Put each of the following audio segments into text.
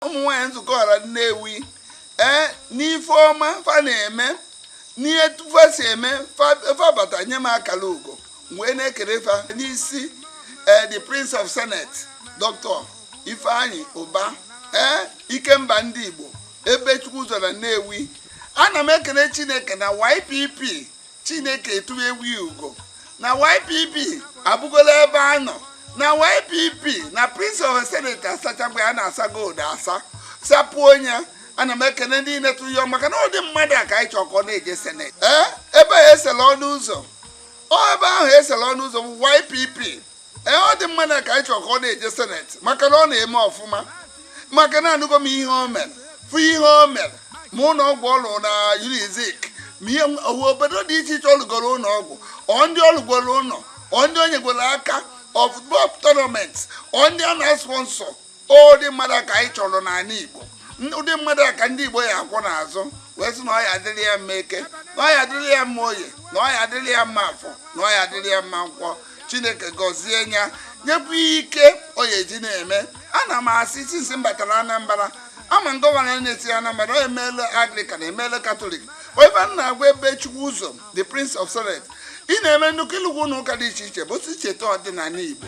ụmụ nwaanyị nzukọ ọra Nnewi ee n'ife ọma fa na-eme n'etu fa si eme fa bata nye m akala ugo wee na-ekere fa n'isi ee the prince of senate dr ifeanyi ụba ee ikemba ndị igbo ebubechukwuzọ na nnewi ana m ekele chineke na ypp Chineke etuwewo ugo na YPP abụgola ebe a nọ na YPP na Prince of Senate asachagwa ya na-asa gold asa sapụ onye ana m ekene ndị na-etu ya maka na ụdị mmadụ a ka anyị chọ ka ọ na-eje seneti ee ebe a esele ọnụ ụzọ ọ ebe ahụ esele ọnụ ụzọ bụ YPP ee ụdị mmadụ a ka anyị chọ ka ọ na-eje seneti maka na ọ na-eme ọfụma maka na anụgo m ihe o mere fụ ihe o mere ma ụlọ ọgwụ ọ lụ na unizik ma ihe owu obodo dị iche iche ọ lụgoro ụlọ ọgwụ ọ ndị ọ lụgoro ụlọ ọ ndị o nyegoro aka ọ football tournament ọ ndị a na-sponsor ụdị mmadụ a ka anyị chọrọ n'ala Igbo ụdị mmadụ a ka ndị Igbo ya akwụ n'azụ wee sị na ọ ya adịrị ya mma eke na ọ ya adịrị ya mma oye na ọ ya adịrị ya mma afọ na ọ ya adịrị ya mma nkwọ Chineke gọzie ya nyekwuo ike ọ ya eji na-eme ana m asị since m batara Anambra ama m gọvanọ na-esi Anambra o meela Anglican emeela Katọlik ọ ife m na-agwa Ebubechukwuzọ the Prince of Senate ị na-eme nnukwu ị lụgwo ụlọ ụka dị iche iche bụ si cheta ọdịnala Igbo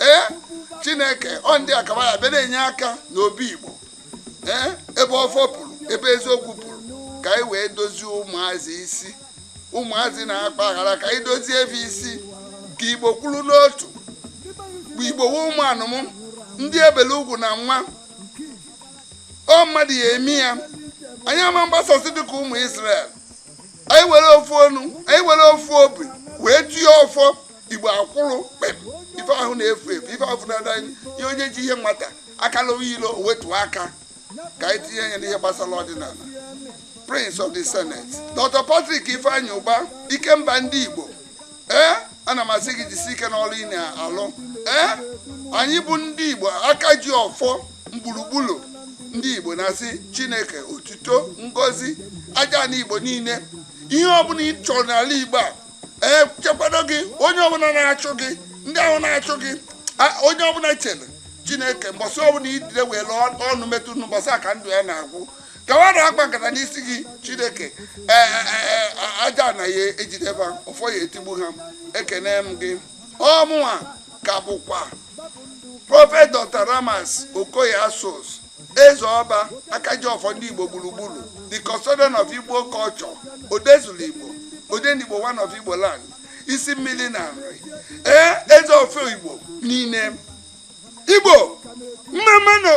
ee chineke ọ ndị akaba ya bịa na-enye aka n'obi igbo ee ebe ọfọ pụrụ ebe eziokwu pụrụ ka anyị wee dozie ụmụazị isi ụmụazị na-akpa aghara ka anyị dozie ba isi ka igbo kwụrụ n'otu bụ igbo wee ụmụ anụmụ ndị ebele ugwu na nwa ọ mmadụ ya eme ya anyị ama na-agbasasị dịka ụmụ Israel anyị were ofu ọnụ anyị were ofu obi wee tie ọfọ igbo akwụrụ kpem ife ahụ na-efu efu ife ahụ na-ada anyị ihe onye ji ihe nwata aka n'elu wetuo aka ka anyị tinye ya n'ihe gbasara ọdịnala prince of the senate dr patrick ifeanyi ụba ikemba ndị igbo ee ana m asị gị jisi ike n'ọlụ ị na-alụ ee anyị bụ ndị igbo aka ji ọfọ gburugburu ndị igbo na-asị chineke otuto ngozi ajana igbo niile ihe ọbụla ị chọrọ n'ala igbo a chekwado gị onye ọbụla na-achụ gị ndị ahụ na-achụ gị a- onye ọbụla chere chineke mbọsị ọbụla idide welụ ọnụ metụ nnu mbọsị a ka ndụ ya na-agwụ ka wa na-akpa nkata n'isi gị chineke ee, ee, ee, ajana ya ejide ba ọfọ ya etigbu ha ekene m gị ọ mụnwa ka bụkwa prọfet dr ramas okoye asuzu Eze Ọba, Akajiọfọ ndị Igbo gburugburu, the custodian of Igbo culture, Odezulu Igbo, Odenigbo one of Igbo land, isi mmili na Nri, ee eze ọfọ Igbo niile. Igbo, mmammanụ!